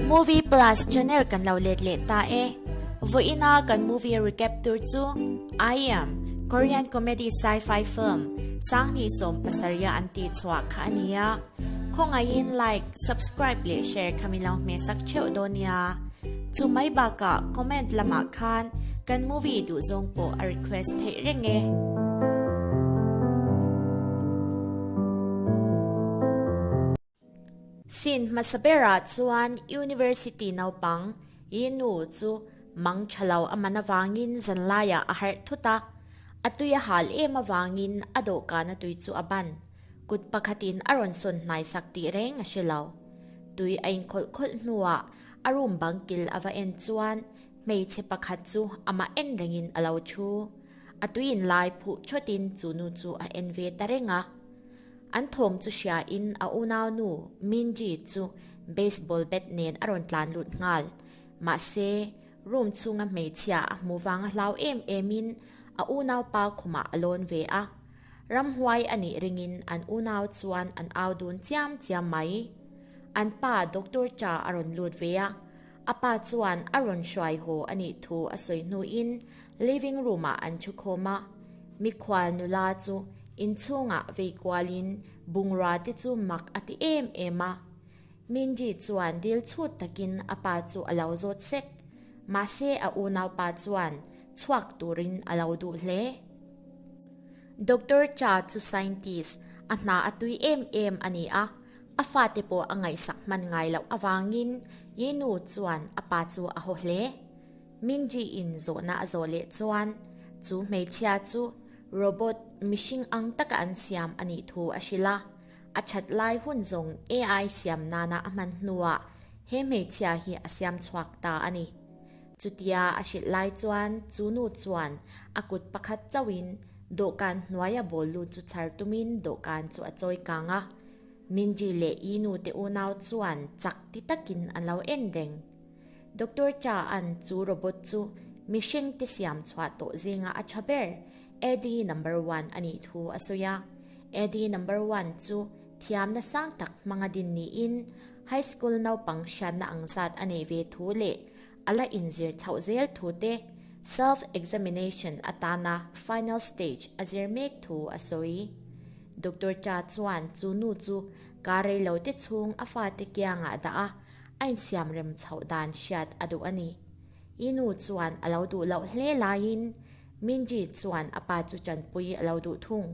Movie Plus channel kan lo let leh ta e. Vawiina kan movie recap tur chu I am Korean comedy sci-fi film Sangni sawm pasarih an tih chhuah kha a ni a. Khawngaih in like, subscribe leh share kha mi lo hmeh sak theuh dawn nia. Chu mai bakah comment lamah khan kan movie duh zawng pawh a request theih reng e. Sin hmasa berah chuan University naupang i nu chu mang tha lo a man avangin zanlaiah a harh thut a, a tui a hal em avangin a dawhkana tui chu a ban. Kut pakhatin a rawn sawn hnaisak tih reng a si lo. Tui a inkhawlh khawlh hnuah A room bang kil a va en chuan hmeichhe pakhat chu amah en rengin a lo thu. A tuiin lai phuh chawtin chu nu chu a en ve ta reng a. An thawm chu hriain a unau nu Minji chu baseball bat nen a rawn tlan lut nghal. Mahse, room chhunga hmeichhia a hmu vang a hlau em emin a unaupa khumah a lawn ve a. Ramhuai a nih ringin an unau chuan an au dun chiam chiam mai. An pa doctor cha a rawn lut ve a, a pa chuan a rawn hruai haw a nih thu a sawi hnuin living room ah an thu khawm a. Mikhual nula chu inchhungah vei kualin bungrua te chu mak a ti em em a. Mindy chuan dil chhut takin a pa chu a lo zawt sek. Mahse a unau pa chuan chhuak turin a lo duh hle. Doctor Cha chu scientist a hna a tui em em a ni a, a fate pawh a ngaihsak hman ngai loh avangin Yinu chuan a pa chu a haw hle. Mingjie in zawhna a zawh leh chuan chu hmeichhia chu robot, mihring ang taka an siam a nih thu a hrilh a, a that lai hun zawng AI siam nana a hman hnuah he hmeichhia hi a siam chhuak ta a ni. Chutia a hrilh lai chuan chu nu chuan a kut pakhat chauhin dawhkan hnuaia ball lut chu chhar tumin dawhkan chu a chawi kang a. Mindy leh ii nu te unau chuan chak ti takin an lo en reng. Doctor Cha'n chu robot chu mihring te siam chhuah tawh zinga a tha ber, Eddie number one a nih thu a sawi a. Eddie number one chu thiamna sang tak hmang a din niin High School naupang hriatna ang zat a nei ve thu leh a la inzir chhoh zel thu te, Self Examination atana Final Stage a zir mek thu a sawi. Doctor Cha chuan chu nu chu ka rei lo te chhung a fate kiangah dah a, a insiam rem chhoh dan hriat a duh a ni. I nu chuan a lo duh loh hle laiin Mingjie chuan a pa chu chanpui a lo duh thung.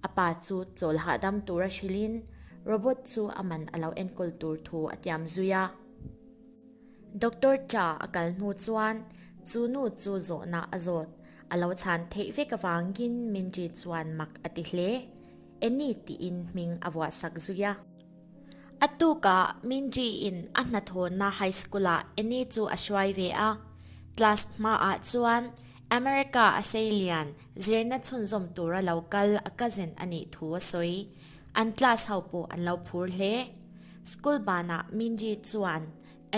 A pa chu chawl hahdam tur a hrilhin Robot chu a man a lo enkawl tur thu a tiam zui a. Doctor tla a kal hnu chuan chu nu chu zawhna a zawt a lo chhan theih vek avangin Minri chuan mak a ti hle. Annie tiin hming a vuahsak zui a. A tuka Minji in a hnathawna high school ah Annie chu a hruai ve a. Class hma ah chuan America a sei lian zirna chhunzawm tur a lo kal a cousin a nih thu a sawi. An class ho pawh an lo phur hle. School ban ah Minji chuan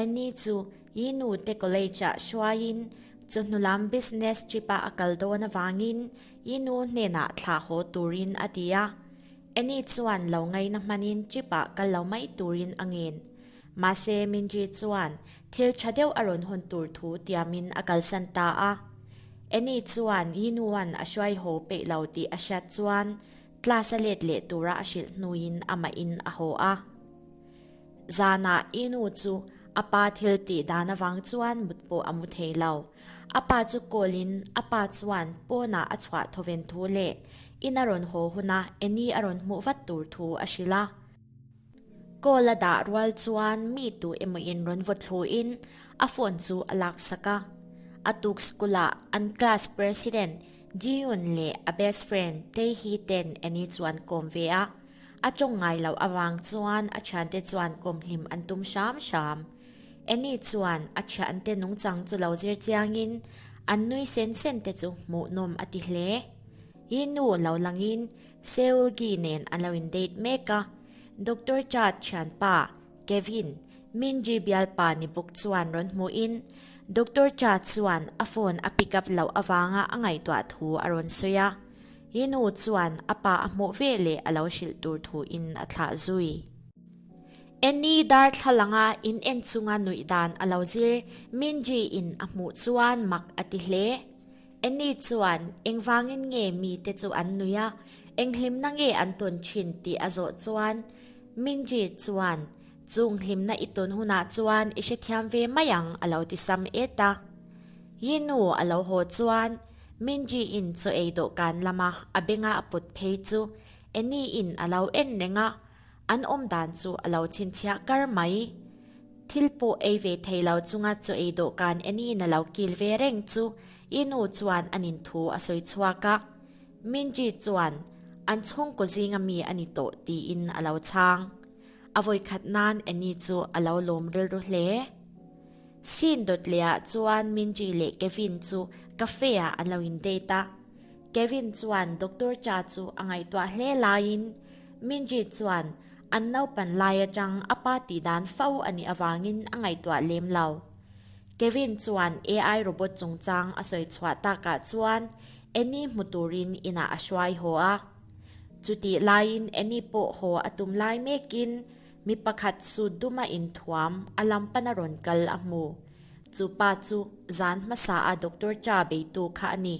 Annie chu Yi Nu Te College ah hruai in chu hnu lam business trip a a kal dawn avangin Yi Nu hnenah thlah haw turin a ti a. Annie chuan lo ngaina hmanin trip-ah kal lo mai turin a ngen. Mahse, Minri chuan thil tha deuh a rawn hun tur thu tiamin a kalsan ta a. Annie chuan Yinuan a hruaiho peih lo tih a hriat chuan class a let leh tura a hrilh hnuin amahin a haw a. Zanah Yinu chu a pa thil tih dan avang chuan mut pawh a mu thei lo. A pa chu call in a pa chuan pawn ah a chhuah thawven thu leh in a rawn haw hun a, Annie a rawn hmuh vat tur thu a hrilh a. Call a dah rual chuan mi tu emaw in rawn vaw thluh in a phone chu a lak sak a. A tuk school ah an class president Jiyun leh a best friend Taehi ten Annie chu an kawm ve a. A tawng ngai loh avang chuan a thiante chuan kawm hlim an tum hram hram. Annie chuan a thiante nungchang chu lo zir chiangin, An nui sen sen te chu hmuh nawm a ti hle. Hi nu lo langin Seulgi nen a lo in date mek a. Doctor Chad thianpa, Kevin, Minji bialpa ni buk chuan rawn hmuhin, Doctor Chad chuan a phone a pick up loh avanga a ngaihtuah thu a rawn sawi a. Hi nu chuan a pa a hmuh veleh a lo hrilh tur thu in a thlah zui. Annie darthlalanga in en chunga nuih dan a lo zir Minjee in a hmuh chuan mak a ti hle. Annie chuan, Engvangin nge mite chu an nuih a? Enghlimna nge an tun thin? tih a zawh chuan Minjee chuan, Chung hlimna i tun hunah chuan i hrethiam ve mai ang, a lo ti sam et a. Yinu a lo haw chuan Minjee in chaw ei dawhkan lama a benga a put phei chu Annie in a lo en reng a. An awm dan chu a lo chhinchhiah kar mai. Thil pawh ei ve thei lo chunga chaw ei dawhkan Annie-in a lo kil ve reng chu i nu chuan a nin thu a sawi chhuak a. Minji chuan, An chhungkaw zinga mi a ni tawh, tiin a lo chhang. A vawi khat nan Annie chu a lo lawm rilru hle. Scene dawt leh ah chuan Minji leh Kevin chu cafe ah an lo in date a. Kevin chuan doctor cha chu a ngaihtuah hle laiin Minjeet chuan an naupan lai atang a pa tih dan fo a nih avangin a ngaihtuah lem lo. Kevin chuan AI robot chungchang a sawi chhuah takah chuan Annie hmu turin inah a hruai haw a. Chutih laiin Annie pawh haw a tum lai mekin mi pakhat suit duma inthuam a lam pan a rawn kal a hmu. Chu pa chu zan hmasa a doctor cha beitu kha a ni.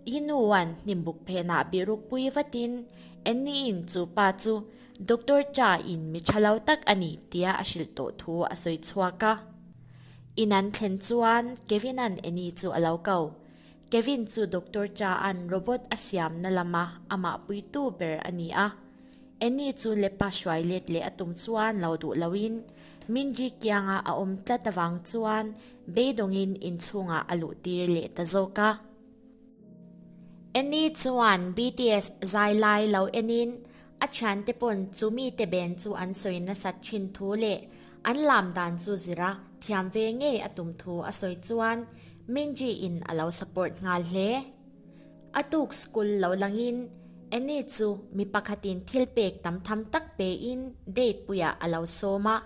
Hi nuan hnimbuk phenah bihruk pui vatin, Annie-in chu pa chu Doctor Cha in mi tha lo tak a ni tia a hrilh tawh thu a sawi chhuak a. In an thlen chuan Kevin-a'n Annie chu a lo kau. Kevin chu Doctor Cha-a'n robot a siamna lama amah puitu ber a ni a. Annie chu lepa hruai let leh a tum chuan lo duh loin Minji kianga a awm tlat avang chuan beidawngin inchhungah a luh tir leh ta zawk a. Annie chuan BTS zai lai lo enin a thiante pawn chu mite ben chu an sawi nasat thin thu leh an lam dan chu zira thiam ve ngei a tum thu a sawi chuan Minji in a lo support nghal hle. A tuk school loh langin Anny chu mi pakhatin thil pek tam tham tak pein date puiah a lo sawm a.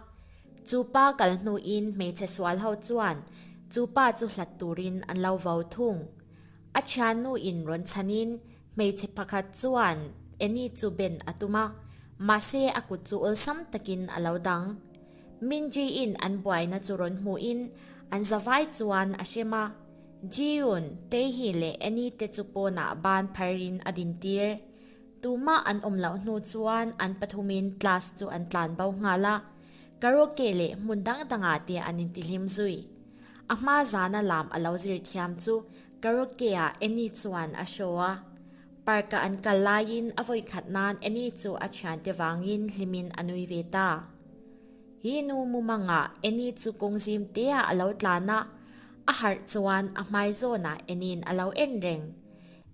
Chu pa kal hnuin hmeichhe sual ho chuan chu pa chu hlat turin an lo vo thung. A thian nu in rawn chhanin hmeichhe pakhat chuan Anny chu ben a tum a, mahse a kut chu awlsam takin a lo dang. Mingjie-in an buaina chu rawn hmuhin an zavai chuan a hrem a. Jiun, Teihi leh Annie te chu pawnah ban phar in a din tir. Tumah an awm loh hnu chuan an pathum in class chu an tlan bo nghal a, karaoke leh hmun dang dangah te an inti hlim zui. A hma zana lam a lo zir thiam chu karaoke ah Annie chuan a show a. Park ah an kal lai in a vawi khat nan Annie chu a thian te vang in hlim in a nui ve ta. Hi nu mumang ah Annie chu kawng zim te ah a lo tlan a. A harh chuan a hmai zawnah Annie-in a lo en reng.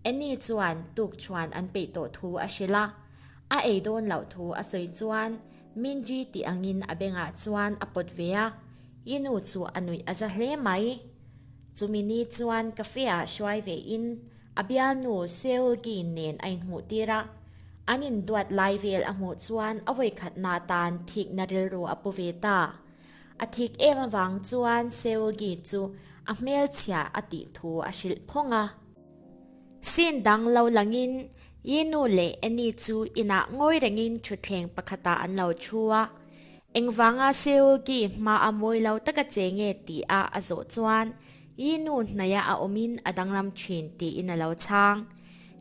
Annie chuan tuk chuan an peih tawh thu a hrilh a, a ei dawn loh thu a sawi chuan Minji tih angin a bengah chuan a pawt ve a, I nu chu a nuih a za hle mai. Chumi ni chuan cafe-ah hruai vein a bialnu Seulgi nen a inhmuh tir a, an induat lai vel a hmuh chuan a vawikhatna tan thikna rilru a pu ve ta. A thik em avang chuan Seulgi chu a hmelchhia a tih thu a hrilh phawng a. Sin dang lo langin Yinu leh Annie chu inah ngawi rengin thutthleng pakhatah an lo thu a. Engvanga Seulgi hma a mawi lo taka che nge tih a a zawh chuan Yinu hnaihah a awmin a danglam thin tiin a lo chhang.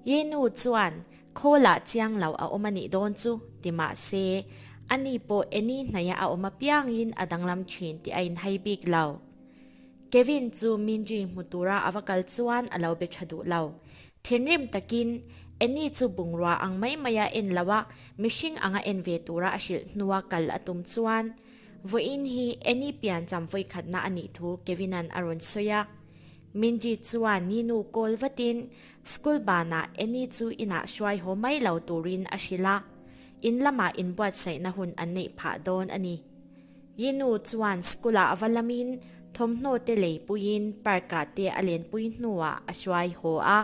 Yinu chuan Khawlah chiang lo a awm a nih dawn chu, ti mah se, ani pawh Annie hnaihah a awm apiangin a danglam thin tih a inhai bik lo. Kevin chu Minjee hmu tura a va kal chuan a lo be tha duh lo. Thinrim takin, Annie chu bungrua ang mai mai a en lo a, mihring anga en ve tura a hrilh hnua kal a tum chuan, vawiin hi Annie pian cham vawikhatna a nih thu Kevin-a'n a rawn sawi a. Minjee chuan ninu kawl vatin School banah Annie chu inah hruai haw mai lo turin a hrilh a, in lamah inbuatsaihna hun an neih phah dawn a ni. Yinu chuan school-ah a va lamin thawmhnaw te lei puiin park-ah te a lenpui hnuah a hruai haw a.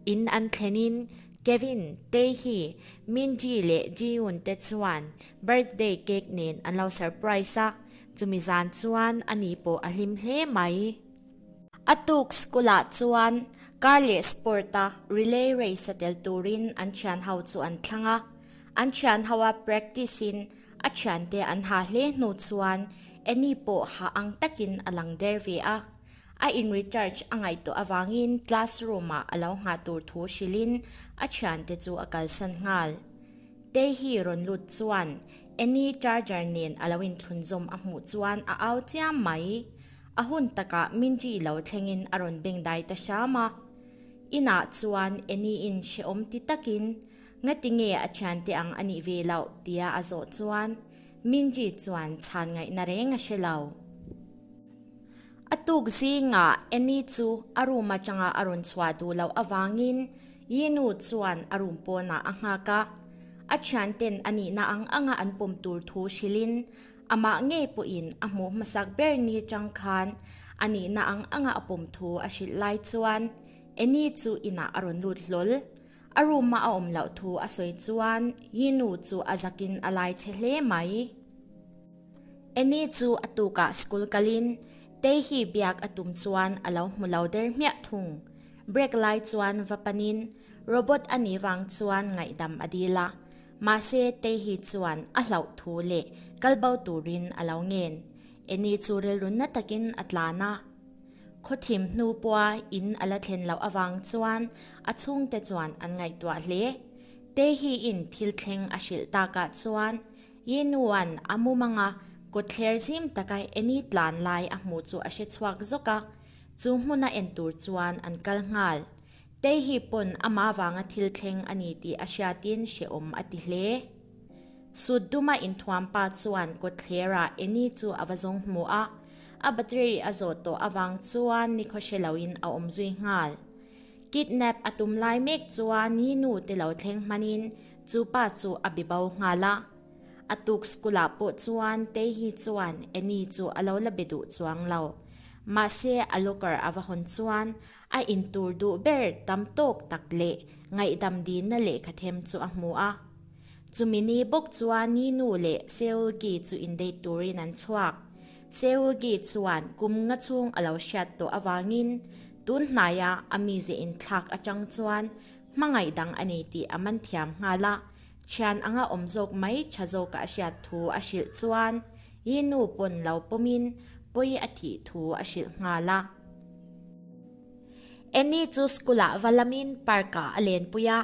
In an thlenin Kevin, Taehi, Minji leh Jiyoon te chuan birthday cake nen an lo surprise a, chumi zan chuan ani pawh a hlim hle mai. A tuk school ah chuan car leh sport a relay race a tel turin an thian ho chu an thlang a, an thian ho a practice in a thian te an ha hle hnu chuan Annie pawh ha ang takin a lang der ve a. A in recharge a ngaihtuah avangin classroom ah a lo nghah tur thu hrilhin a thian te chu a kalsan nghal. Taehi rawn lut chuan Annie charger nen a lo inthlun zawm a hmuh chuan a au chiam mai. A hun takah Minji lo thlengin a rawn beng dai ta hram a. Inah chuan Annie in hrehawm ti takin, Nga tinge a thiante ang a nih ve loh, tia a zawh chuan Minji chuan chhan ngaihna reng a hre lo. A tuk zingah Annie chu a room atanga a rawn chhuah duh loh avangin Yinu chuan a room pawnah a nghak a. A thianten a nihna ang anga an pawm tur thu hrilhin Amah ngei pawhin a hmuh hmasak ber ni atang khan a nihna ang anga a pawm thu a hrilh lai chuan Anny chu inah a rawn lut hlawl. A room-ah a awm loh thu a sawi chuan Hinu chu a zakin a lai che hle mai. Anny chu a tukah school kalin Teihi biak a tum chuan a lo hmu lo der hmiah thung. Break lai chuan va panin Robot a nih vang chuan ngaihdam a dil a. Mahse tei hi chuan a hlauh thu leh kal bo turin a lo ngen. Annie chu rilrunna takin a tlan a. Khawthim hnu pawha in a la thlen loh avang chuan a chhungte chuan an ngaihtuah hle. Tei hi in thil thleng a hrilh takah chuan Yenuan a mum anga kawtthler zim taka Annie tlan lai a hmu chu a hre chhuak zawk a. Chu hmuna en tur chuan an kal nghal. Tei hi pawn amah vanga thil thleng a ni tih a hriatin hrehawm a ti hle. Sutduma inthuam pa chuan kawtthlerah Annie chu a va zawng hmu a, a battery a zawt tawh avang chuan nikhaw hre loin a awm zui nghal. Kidnap a tum lai mek chuan Yinu te lo thleng hmanin chu pa chu a be bo nghal a. A tuk school ah pawh chuan Tei hi chuan Annie chu a lo la be duh chuang lo. Mahse a locker a va hawn chuan A intur duh ber tam tawk tak leh ngaihdam dinna lehkha them chu a hmu a. Chumi ni bawk chuan Ninu leh Seulgi chu indate turin an chhuak. Seulgi chuan kum nga chhung a lo hriat tawh avangin tun hnaia a mizia inthlak atang chuan hmangaih dang a ni tih a man thiam nghal a, thian anga awm zawk mai tha zawkah a hriat thu a hrilh chuan i nu pawn lo pawmin pawi a thih thu a hrilh nghal a. Annie chu school ah va lamin park ah a lenpui a,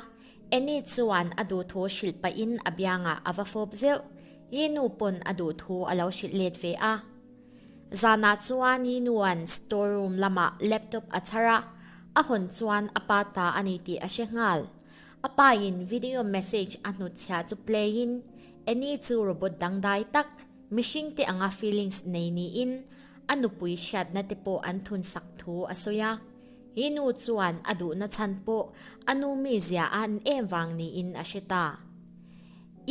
Annie chuan a duh thu hrilh pahin a biangah a va fawp zeuh, i nu pawn a duh thu a lo hrilh let ve a. Zanah chuan i nu'n store room lamah laptop a chhar a, a hawn chuan a pa ta a ni tih a hre nghal. A pain video message a hnut chhia chu play in, Annie chu robot dangdai tak, mihring te anga feelings nei niin a nupui hriatna te pawh an thunsak thu a sawi a. Hi nu chuan a duhna chhan pawh a nu mizia a ni em vang niin a hre ta.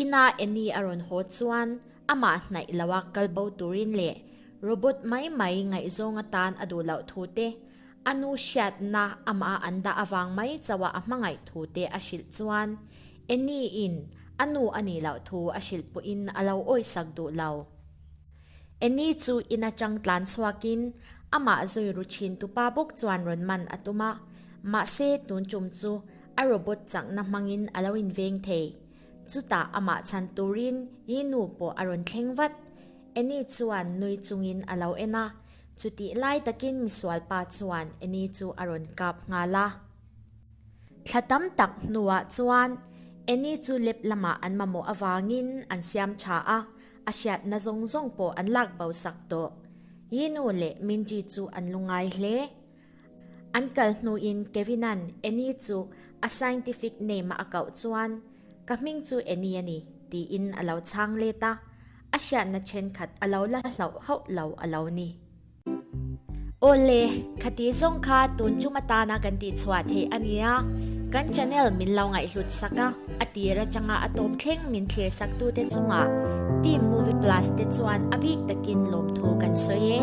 Ina Annie a rawn haw chuan amah hnaih loa kal bo turin leh robot mai mai ngaihzawng atan a duh loh thu te A nu hriatna amah an dah avang mai chauhah a hmangaih thu te a hrilh chuan Anny in a nu a nih loh thu a hrilh pawhin a lo awisak duh lo. Anny chu in atang tlan chhuakin amah zawi ru thin tu pa bawk chuan rawn man a tum a, mahse tun tum chu a robot changhna hmangin a lo inveng thei. Chutah amah chhan turin hi nu pawh a rawn thleng vat. Anny chuan nui chungin a lo en a, Chutih lai takin misualpa chuan Annie chu a rawn kap nghal a. Thla tam tak hnuah chuan Annie chu lep lamah an mamawh avangin an siam tha a, a hriatna zawng zawng pawh an lak bosak tawh. Yinu leh Mindy chu an lu ngai hle. An kal hnu in Kevina'n Annie chu a scientific name-a a kauh chuan, Ka hming chu Annie a ni, tiin a lo chhang let a. A hriatna thenkhat a lo la hlauh hauh lo a lo ni. Aw le, khati zawng kha tun chum atana kan tih chhuah theih a nia, kan channel min lo ngaihhlut sak a, a tir atanga a tawp thleng min thlir saktute chungah Team Movie Plus te chuan a bik takin lawmthu kan sawi e.